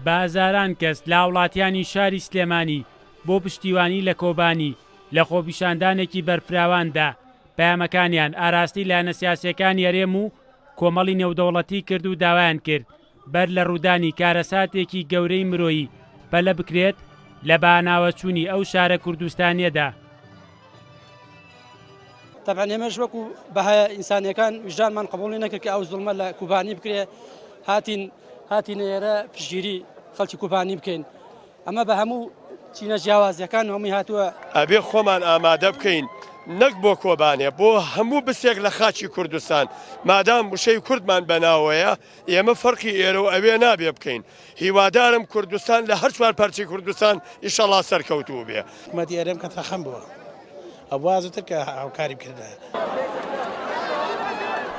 بە هەزاران کەس لە هاوڵاتیانی شاری سلێمانی بۆ پشتیوانی لە کۆبانی لە خۆپیشاندانێکی بەرفراواندا پەیامەکانیان ئاراستەی لایەنە سیاسیەکانی هەرێم و کۆمەڵی نێودەوڵەتی کرد و داوایان کرد بەر لە ڕوودانی کارەساتێکی گەورەی مرۆیی پەلە بکرێت لە باناوەچوونی ئەو شارە کوردستانیەدا. تەبعەن ئێمەش وەکو بەهایە ئینسانیەکان ویژدانمان قبوڵی نەکرد کە ئەو زوڵمە لە کوبانی بکرێ هاتین هاتینە ئێرە پشگیری خەڵکی کوبانی بکەین ئەمە بە هەموو چینە جیاوازیەکان هەمووی هاتووە ئەبێ خۆمان ئامادە بکەین نەک بۆ کۆبانێ بۆ هەموو بسێک لە خاچی کوردستان مادام وشەی کوردمان بەناوەیە. ئێمە فەرقی ئێرە و ئەوێ نابێ بکەین. هیوادارم کوردستان لە هەر چوار پارچەی کوردستان ئیشەڵا سەرکەوتوو بێ. حکومەتی ئەرێم کە تەخەم بووە ئەبوا زوتر کە هاوکاری بکردایە.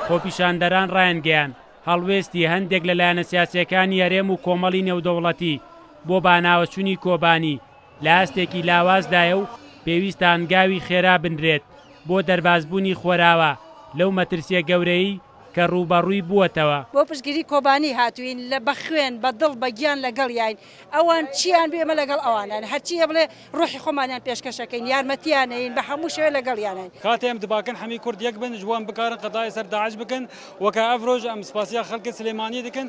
خۆپیشاندەران ڕایانگەیاند، هەڵوێستی هەندێک لە لایەنە سیاسییەکانی هەرێم و کۆمەڵی نێودەوڵەتی بۆ باناوەچوونی کۆبانی لە ئاستێکی لاوازدایە و پێویستە هەنگاوی خێرا بنرێت بۆ دەربازبوونی خۆراوا لەو مەترسییە گەورەیەی کە ڕووبەڕووی بووەتەوە. بۆ پشتگیری کۆبانی هاتووین، لە بە خوێن، بە دڵ، بە گیان لەگەڵیاین. ئەوان چییان بێ ئێمە لەگەڵ ئەواناین. هەرچی هەیە بڵێ ڕۆحی خۆمانیان پێشکەشەکەین، یارمەتییانەین، بە هەموو شێوەیە لەگەڵیاناین. کاتێ ئەم دباکن حەمی کورد یەک بن، ژ وان بکارن قەداێ سەر داعش بکن و کە ئەڤ ڕۆژ ئەم سپاسیا خەلکن سلێمانی دکن.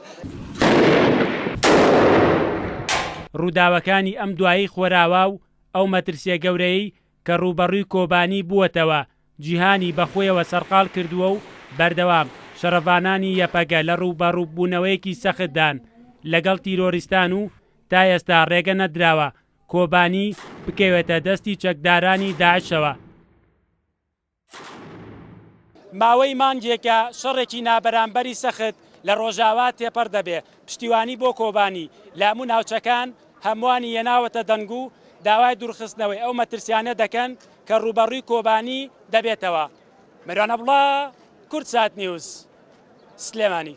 ڕووداوەکانی ئەم دوایەی خۆراوا و ئەو مەترسیە گەورەیەی کە ڕووبەڕووی کۆبانی بووەتەوە، جیهانی بە خۆیەوە سەرقاڵ کردووە و بەردەوام شەڕڤانانی یەپەگە لە ڕووبەڕوو بوونەوەیەکی سەختدان لەگەڵ تیرۆریستان و تا ئێستا ڕێگە نەدراوە کۆبانی بکەوێتە دەستی چەکدارانی داعشەوە. ماوەی مانگێکە شەڕێکی نابەرامبەری سەخت لە ڕۆژاوا تێپەڕ دەبێ، پشتیوانی بۆ کۆبانی لە هەموو ناوچەکان هەمووانی هێناوەتە دەنگ و داوای دوورخستنەوەی ئەو مەترسیانە دەکەن کە ڕووبەڕووی کۆبانی دەبێتەوە. مەریوان عەبدوڵا، کوردساتنیوز، سلێمانی.